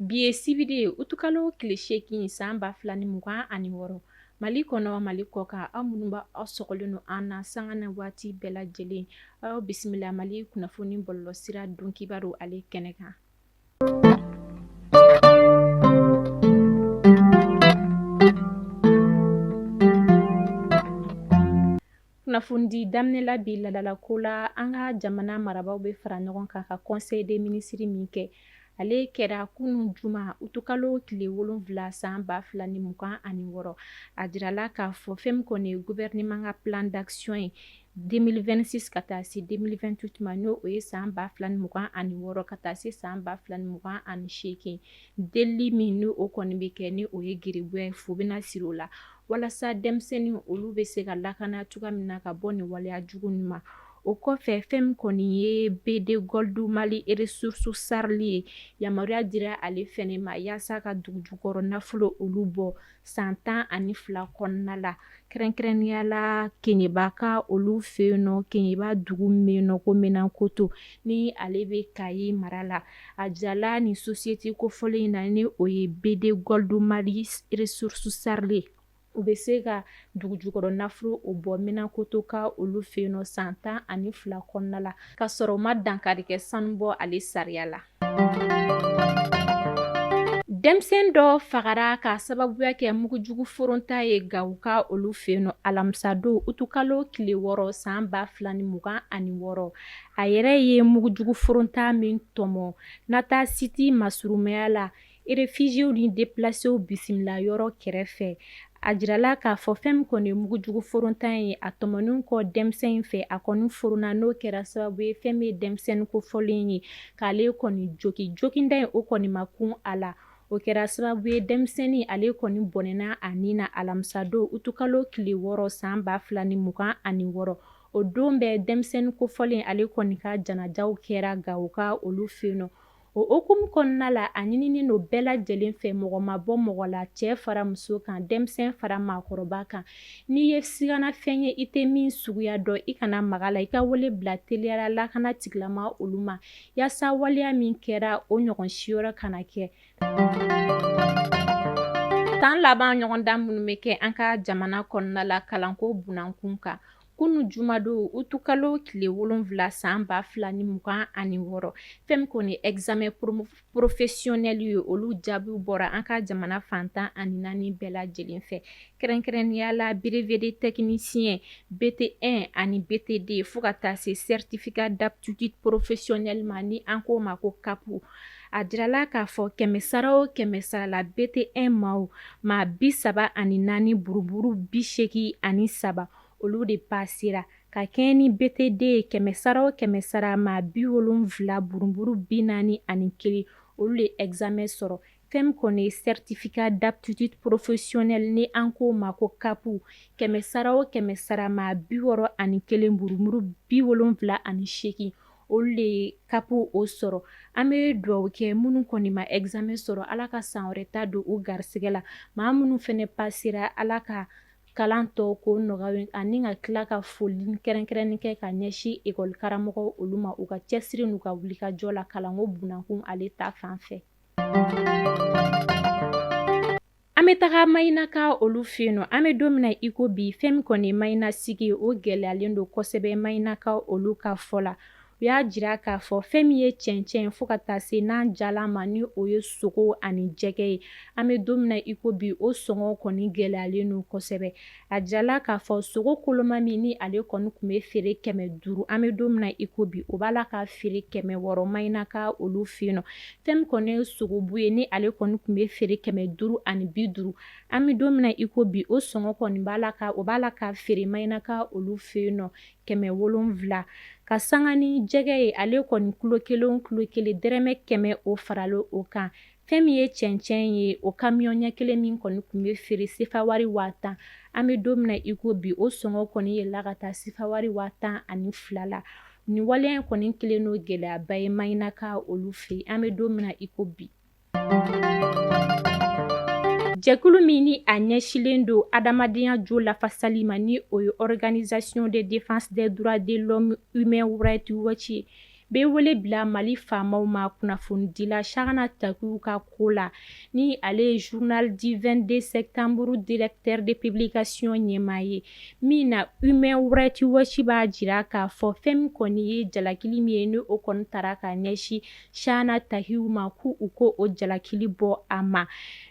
Bi ye sibiri ye utukalo tile seegin san ba fila ni mugan ani wɔɔrɔ mali kɔnɔ mali kɔkan aw minnu b' aw sɔgɔlen don an na sanga na waati bɛɛ lajɛlen aw bisimila mali kunnafoni bɔlɔlɔsira don kibaru ale kɛnɛ kan Kunnafoni daminɛ la bi ladala ko la an ka jamana marabaaw bɛ fara ɲɔgɔn kan ka conseil des ministres min kɛ ale kɛra kunun juma utukalo tile wolonfila san ba fila ni mugan ani wɔɔrɔ a jirala k'a fɔ fɛn min kɔni gouvernement ka plan d'action ye 2026 ka taa se 2028 ma ni o ye san 2026 ka taa se san 2028 delili min ni o kɔni bɛ kɛ ni o ye geribuya ye fu bɛna siri o la walasa denmisɛnnin olu bɛ se ka lakana cogoya min na ka bɔ nin waleya jugu ninnu ma o kɔfɛ fɛn min kɔni ye B2Gold Mali Resources SARL ye yamaruya dira ale fɛnɛ ma yaasa ka dugujukɔrɔ nafolo olu bɔ san tan ani fila kɔnɔna la kɛrɛnkɛrɛnnenya la keɲeba ka olu fɛ yen nɔ keɲeba dugu min bɛ yen nɔ ko menankoto ni ale bɛ kayi mara la a jirala nin société kofɔlen in na ni o ye B2Gold Mali Resources SARL u bɛ se ka dugu jukɔrɔ nafolo o bɔ menankoto ka olu fɛ yen nɔ san tan ani fila kɔnɔna la k'a sɔrɔ u ma dankari kɛ sanubɔ ale sariya la Denmisɛn dɔ fagara ka sababuya kɛ mugujugu foronta ye gawo ka olu fɛ yen nɔ alamisadon utukalo tile wɔɔrɔ san ba fila ni mugan ani wɔɔrɔ a yɛrɛ ye mugujugu foronta min tɔmɔ nata siti masurumaya la Réfugiéw ni déplacéw bisimila yɔrɔ kɛrɛfɛ a jirala k'a fɔ fɛn min kɔni mugujugu foronta ye a tɔmɔnen kɔ denmisɛn in fɛ a kɔni foronna n'o kɛra sababu ye fɛn min ye denmisɛnnin kofɔlen ye k'ale kɔni jogin joginda in o kɔni ma kun a la o kɛra sababu ye denmisɛnnin ale kɔni bɔnɛna a ni na alamisadon utukalo tile wɔɔrɔ san ba fila ni mugan ani wɔɔrɔ o don bɛɛ denmisɛnnin kofɔlen ale kɔni ka janajaw kɛra gawo ka olu fɛ yen nɔ o hukumu kɔnɔna la a ɲininen don bɛɛ lajɛlen fɛ mɔgɔ ma bɔ mɔgɔ la cɛ fara muso kan denmisɛn fara maakɔrɔba kan n'i ye sigana fɛn ye i tɛ min suguya dɔn i kana maga la i ka wele bila teliya la lakana tigilama olu ma yaasa waleya min kɛra o ɲɔgɔn si yɔrɔ kana kɛ san laban ɲɔgɔndan minnu bɛ kɛ an ka jamana kɔnɔna la kalanko bunda kun kan kunun jumadon utukalo tile wolonwula san ba fila ni mugan ani wɔɔrɔ fɛn min kɔni examen professionnel ye olu jaabiw bɔra an ka jamana fan tan ani naani bɛɛ lajɛlen fɛ kɛrɛnkɛrɛnnenyala brevet de technicien BT un ani BT deux fo ka taa se certificat d'aptitude professionnelle ma ni an k'o ma ko CAP a jirala k'a fɔ kɛmɛsara o kɛmɛsara la BT un ma maa bi saba ani naani buruburu bi seegin ani saba olu de pasera ka kɛɲɛ ni BT deux ye kɛmɛ sara o kɛmɛ sara maa bi wolonwula buruburu bi naani ani kelen olu de examen sɔrɔ fɛn min kɔni ye certificat d'aptitude professionnelle ni an k'o ma ko CAP kɛmɛ sara o kɛmɛ sara maa bi wɔɔrɔ ani kelen buruburu bi wolonwula ani seegin olu de ye CAP o sɔrɔ an bɛ dugawu kɛ minnu kɔni ma examen sɔrɔ ala ka san wɛrɛ ta don u garisɛgɛ la maa minnu fana pasera ala ka kalan tɔ ko nɔgɔya ani ka tila ka foli kɛrɛnkɛrɛnni kɛ ka ɲɛsin ekɔli karamɔgɔ olu ma u ka cɛsiri n'u ka wulikajɔ la kalanko bunankun ale ta fan fɛ an bɛ taga maɲinaka olu fɛ yen nɔ an bɛ don min na i ko bi fɛn min kɔni maɲina sigi o gɛlɛyalen don kosɛbɛ maɲinaka olu ka fɔ la u y'a jira k'a fɔ fɛn min ye cɛncɛn fo ka taa se nan jalan ma ni o ye sogo ani jɛgɛ ye an bɛ don min na i ko bi o sɔngɔ kɔni gɛlɛyalen don kosɛbɛ a jirala k'a fɔ sogo koloma min ni ale kɔni tun bɛ feere kɛmɛ duuru an bɛ don min na i ko bi o b'a la ka feere kɛmɛ wɔɔrɔ maɲinaka olu fɛ yen nɔ fɛn min kɔni ye sogobu ye ni ale kɔni tun bɛ feere kɛmɛ duuru ani bi duuru an bɛ don min na i ko bi o sɔngɔ kɔni b'a la ka o b'a la ka feere maɲinaka olu fɛ yen nɔ kɛmɛ wolonwula ka sanga ni jɛgɛ ye ale kɔni kilo kelen kilo kelen dɛrɛmɛ kɛmɛ o farala o kan fɛn min ye cɛncɛn ye o kamiyɔn ɲɛ kelen min kɔni tun bɛ feere sefawari waa tan an bɛ don min na i ko bi o sɔngɔ kɔni yɛlɛla ka taa sefawari waa tan ani fila la nin waleya in kɔni kɛlen don gɛlɛyaba ye maɲinaka olu fɛ yen an bɛ don min na i ko bi Jɛkulu min ni a ɲɛsinlen don adamadenya jo lafasali ma ni o ye organisation de défense des droits de l'homme Human Rights Watch ye bɛ wele bila Mali faamaw ma kunnafonidila Chahana Takiou ka ko la ni ale ye journal du 22 septembre directeur de publication ɲɛmaa ye min na Human Rights Watch b'a jira k'a fɔ fɛn min kɔni ye jalakili min ye ni o kɔni tara ka ɲɛsin Chahana Takiou ma ko u ka o jalakili bɔ a ma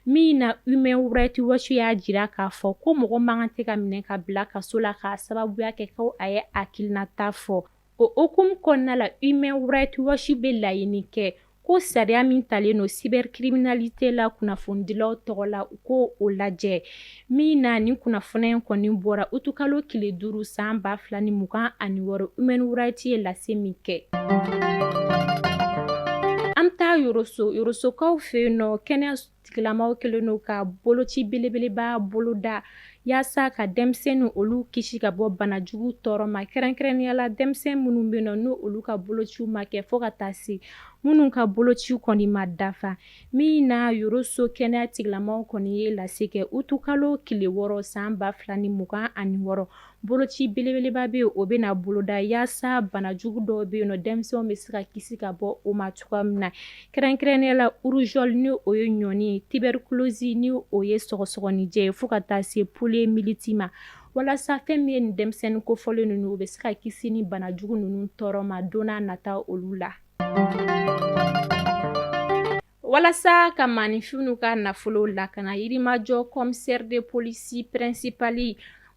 min na Human Rights Watch y'a jira k'a fɔ ko mɔgɔ man kan tɛ ka minɛ ka bila kaso la k'a sababuya kɛ ko a ye hakilinata fɔ o hukumu kɔnɔna la Human Rights Watch bɛ laɲini kɛ ko sariya min talen don cybercriminalité la kunnafonidilaw tɔgɔ la u ka o lajɛ Min na nin kunnafoni in kɔni bɔra utukalo tile duuru san ba fila ni mugan ani wɔɔrɔ Human Rights ye lase min kɛ an bɛ taa Yoroso Yorosokaw fɛ yen nɔ kɛnɛya tigilamaw kɛlen don ka boloci belebeleba boloda yaasa ka denmisɛnnin olu kisi ka bɔ banajugu tɔɔrɔ ma kɛrɛnkɛrɛnnenya la denmisɛn minnu bɛ yen nɔ n'olu ka bolociw ma kɛ fo ka taa se minnu ka bolociw kɔni ma dafa Min na Yoroso kɛnɛya tigilamɔgɔ kɔni ye lase kɛ utukalo tile wɔɔrɔ san ba fila ni mugan ani wɔɔrɔ boloci belebeleba bɛ o bɛna boloda yaasa banajugu dɔw bɛ yen nɔ denmisɛnw bɛ se ka kisi ka bɔ o ma cogoya min na kɛrɛnkɛrɛnnenya la rougeole ni o ye ɲɔni tuberculose ni o ye sɔgɔsɔgɔninjɛ ye fo ka taa se poliomyélite ma walasa fɛn min ye nin denmisɛnnin kofɔlen ninnu u bɛ se ka kisi ni banajugu ninnu tɔɔrɔ ma don nata olu la Walasa ka maaninfinw ka nafolo lakana Yirimajɔ commissaire de police principal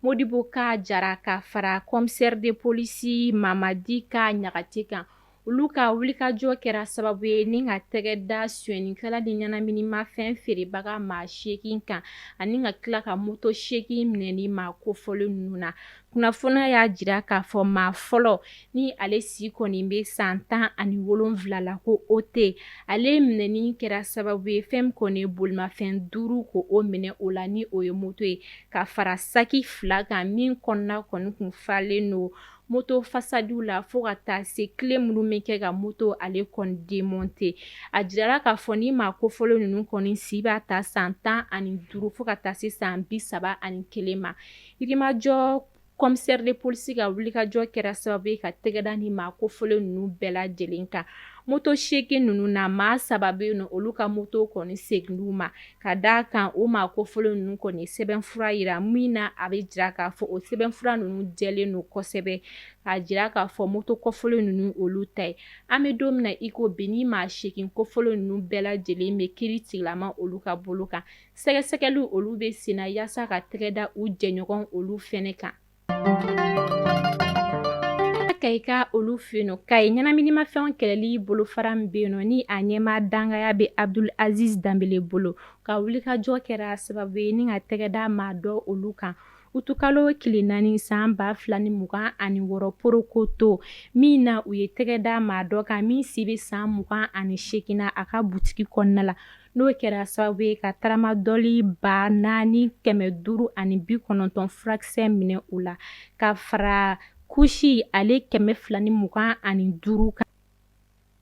Modibo Ka Jara ka fara commissaire de police Mamadi Ka Ɲagate kan olu ka wulikajɔ kɛra sababu ye ni ka tɛgɛ da sonyɛnikɛla ni ɲɛnaminimafɛn feerebaga maa seegin kan ani ka tila ka moto seegin minɛ nin maa kofɔlen ninnu na kunnafoni y'a jira k'a fɔ maa fɔlɔ ni ale si kɔni bɛ san tan ani wolonwula la ko o tɛ ale minɛni kɛra sababu ye fɛn kɔni bolimafɛn duuru ko o minɛ o la ni o ye moto ye ka fara saki fila kan min kɔnɔna kɔni kun falen don moto fasadiw la fo ka taa se clé minnu bɛ kɛ ka moto ale kɔni démonter a jirala k'a fɔ ni maa kofɔlen ninnu kɔni si b'a ta san tan ani duuru fo ka taa se san bi saba ani kelen ma Yirimajɔ commissaire de police ka wulikajɔ kɛra sababu ye ka tɛgɛda ni maa kofɔlen ninnu bɛɛ lajɛlen kan moto seegin ninnu na maa saba bɛ yen nɔ olu ka moto kɔni seginna u ma ka d'a kan o maa kofɔlen ninnu kɔni ye sɛbɛnfura jira min na a bɛ jira k'a fɔ o sɛbɛnfura ninnu jɛlen don kosɛbɛ k'a jira k'a fɔ moto kofɔlen ninnu olu ta ye an bɛ don min na i ko bi ni maa seegin kofɔlen ninnu bɛɛ lajɛlen bɛ kiri tigilama olu ka bolo kan sɛgɛsɛgɛli olu bɛ senna yaasa ka tɛgɛ da u jɛɲɔgɔn olu fɛnɛ kan Kayika olu fɛ yen nɔ Kayi ɲɛnaminimafɛnw kɛlɛli bolofara min bɛ yen nɔ ni a ɲɛmaa dangaya bɛ Abdul Aziz Danbele bolo ka wulikajɔ kɛra sababu ye ni ka tɛgɛ da maa dɔ olu kan utukalo tile naani san ba fila ni mugan ani wɔɔrɔ Porokoto min na u ye tɛgɛ da maa dɔ kan min si bɛ san mugan ani seegin na a ka butigi kɔnɔna la n'o kɛra sababu ye ka taramadɔli ba naani kɛmɛ duuru ani bi kɔnɔntɔn furakisɛ minɛ u la ka fara kusi ale kɛmɛ fila ni mugan ani duuru kan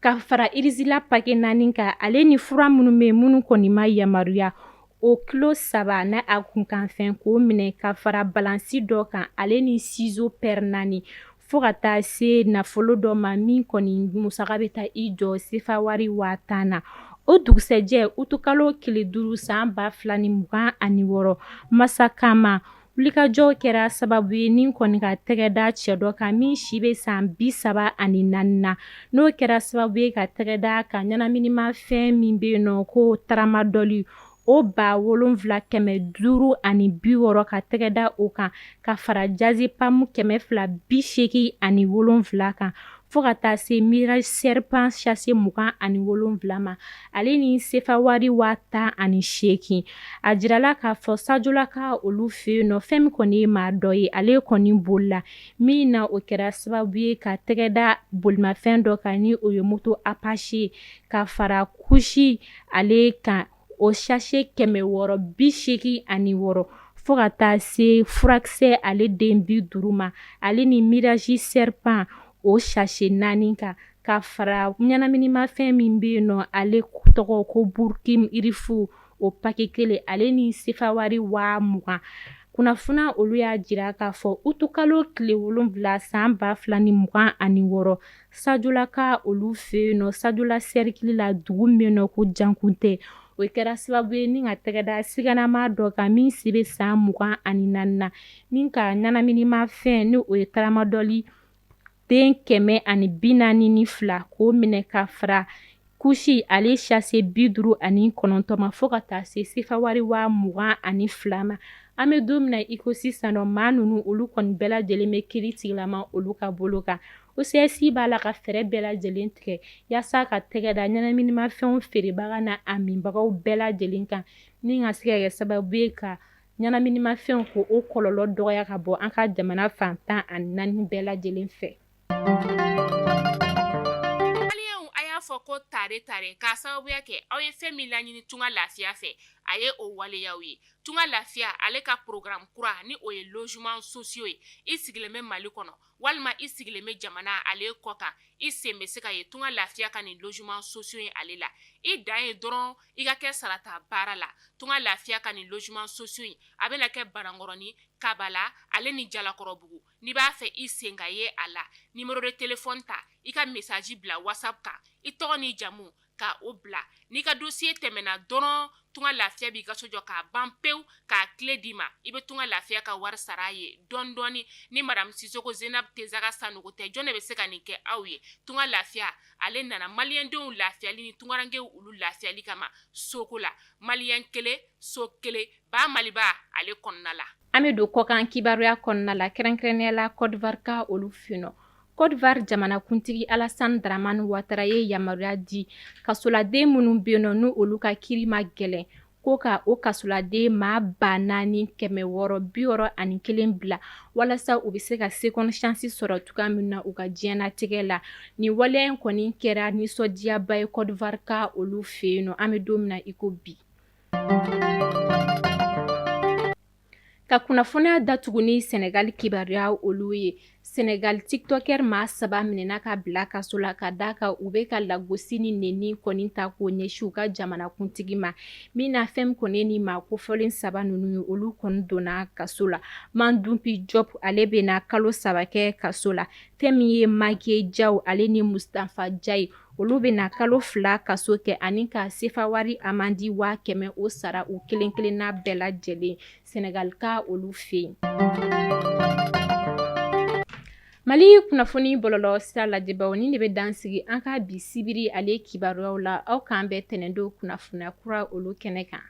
ka fara irizila pakɛ naani kan ale ni fura minnu bɛ yen minnu kɔni ma yamaruya o kilo saba n'a kunkanfɛn k'o minɛ ka fara balansi dɔ kan ale ni sizo pɛri naani Fo ka taa se nafolo dɔ ma min kɔni musaka bɛ taa i jɔ sefa wari waa tan na o dugusɛjɛ utukalo tile duuru san ba fila ni mugan ani wɔɔrɔ masakama wulikajɔ kɛra sababu ye ni kɔni ka tɛgɛda cɛ dɔ kan min si bɛ san bi saba ani naani na n'o kɛra sababu ye ka tɛgɛda ka ɲɛnaminimafɛn min bɛ yen nɔ ko taramadɔli o ba wolonwula kɛmɛ duuru ani bi wɔɔrɔ ka tɛgɛ da o kan ka fara jazepamu kɛmɛ fila bi seeki ani wolonwula kan fo ka taa se mirazi sɛripan sase mugan ani wolonwula ma ale ni sefa wari waa tan ani seeki a jirala k'a fɔ sajolaka olu fɛ yen nɔ fɛn min kɔni ye maa dɔ ye ale kɔni bolila min na o kɛra sababu ye ka tɛgɛda bolimafɛn dɔ kan ni o ye moto apasi ye ka fara kusi ale kan o sase kɛmɛ wɔɔrɔ bi seeki ani wɔɔrɔ fo ka taa se furakisɛ ale den bi duuru ma ale ni mirazi sɛripan o sase naani kan ka fara ɲɛnaminimafɛn min bɛ yen nɔ ale tɔgɔ ko burukinifu o pakɛ kelen ale ni sefa wari waa mugan kunnafoniya olu y'a jira k'a fɔ utukalo tile wolonwula san ba fila ni mugan ani wɔɔrɔ Sajolaka olu fɛ yen nɔ sajola sɛrikili la dugu min nɔ ko jankuntɛ o kɛra sababu ye ni ka tɛgɛda siganama dɔ kan min si bɛ san mugan ani naani na min ka ɲɛnaminimafɛn n'o ye taramadɔli den kɛmɛ ani bi naani ni fila k'o minɛ ka fara kusi ale sase bi duuru ani kɔnɔntɔn ma fo ka taa se sefa wari waa mugan ani fila ma an bɛ don min na iko sisan nɔ maa ninnu olu kɔni bɛɛ lajɛlen bɛ kiritigɛlama olu ka bolo kan OCS b'a la ka fɛɛrɛ bɛɛ lajɛlen tigɛ yaasa ka tɛgɛda ɲɛnaminimafɛnw feerebaga na a minbagaw bɛɛ lajɛlen kan ni ka se ka kɛ sababu ye ka ɲɛnaminimafɛnw ko o kɔlɔlɔ dɔgɔya ka bɔ an ka jamana fan tan ani naani bɛɛ lajɛlen fɛ A y'a fɔ ko tare tare k'a sababuya kɛ aw ye fɛn min laɲini tunga lafiya fɛ a ye o waleya ye tunga lafiya ale ka porogaramu kura ni o ye lozeman sosiyo ye i sigilen bɛ mali kɔnɔ walima i sigilen bɛ jamana ale kɔ kan i sen bɛ se ka ye tunga lafiya ka nin lozeman sosiyo ye ale la i dan ye dɔrɔn i ka kɛ sarata baara la tunga lafiya ka nin lozeman sosiyo in a bɛna kɛ banankɔrɔnin kabala ale ni jalakɔrɔbugu n'i b'a fɛ i sen ka ye a la numéro de téléphone ta i ka message bila WhatsApp kan i tɔgɔ ni jamu ka o bila n'i ka dossier tɛmɛna dɔrɔn tunga lafiya b'i ka so jɔ k'a ban pewu k'a clé d'i ma i bɛ tunga lafiya ka wari sara ye dɔɔnin dɔɔnin ni madamu sisɔkɔ zenabu tesaga sanɔgɔ tɛ jɔn de bɛ se ka nin kɛ aw ye tunga lafiya ale nana maliyɛndenw lafiyali ni tungarankew olu lafiyali kama soko la maliyɛn kelen so kelen ba maliba ale kɔnɔna la An bɛ don kɔkan kibaruya kɔnɔna la kɛrɛnkɛrɛnnenya la kɔdiwarika olu fɛ yen nɔ kɔdiwari jamanakuntigi alasan dramani watara ye yamaruya di kasoladen minnu bɛ yen nɔ ni olu ka kiiri ma gɛlɛn ko ka o kasoladen maa ba naani kɛmɛ wɔɔrɔ bi wɔɔrɔ ani kelen bila walasa u bɛ se ka seconde chance sɔrɔ cogoya min na u ka diɲɛnatigɛ la nin waleya in kɔni kɛra nisɔndiyaba ye kɔdiwarika olu fɛ yen nɔ an bɛ don min na iko bi ka kunnafoniya datugu ni sɛnɛgali kibaruya olu ye sɛnɛgali tiktɔkɛri maa saba minɛna ka bila kaso la ka d'a kan u bɛ ka lagosi ni nɛni kɔni ta k'o ɲɛsin u ka jamanakuntigi ma min na fɛn min kɔni ye nin maa kofɔlen saba ninnu ye olu kɔni donna kaso la mandunpi jɔp ale bɛna kalo saba kɛ kaso la fɛn min ye mageye jaw ale ni mustafa jayi Olu bɛ na kalo fila kaso kɛ ani ka sefa wari amandi waa kɛmɛ o sara u kelen-kelenna bɛɛ lajɛlen sɛnɛgalika olu fɛ yen mali kunnafoni bɔlɔlɔ sira lajɛbaw nin de bɛ dan sigi an ka bi sibiri ale kibaruyaw la aw k'an bɛn tɛnɛndon kunnafoniya kura olu kɛnɛ kan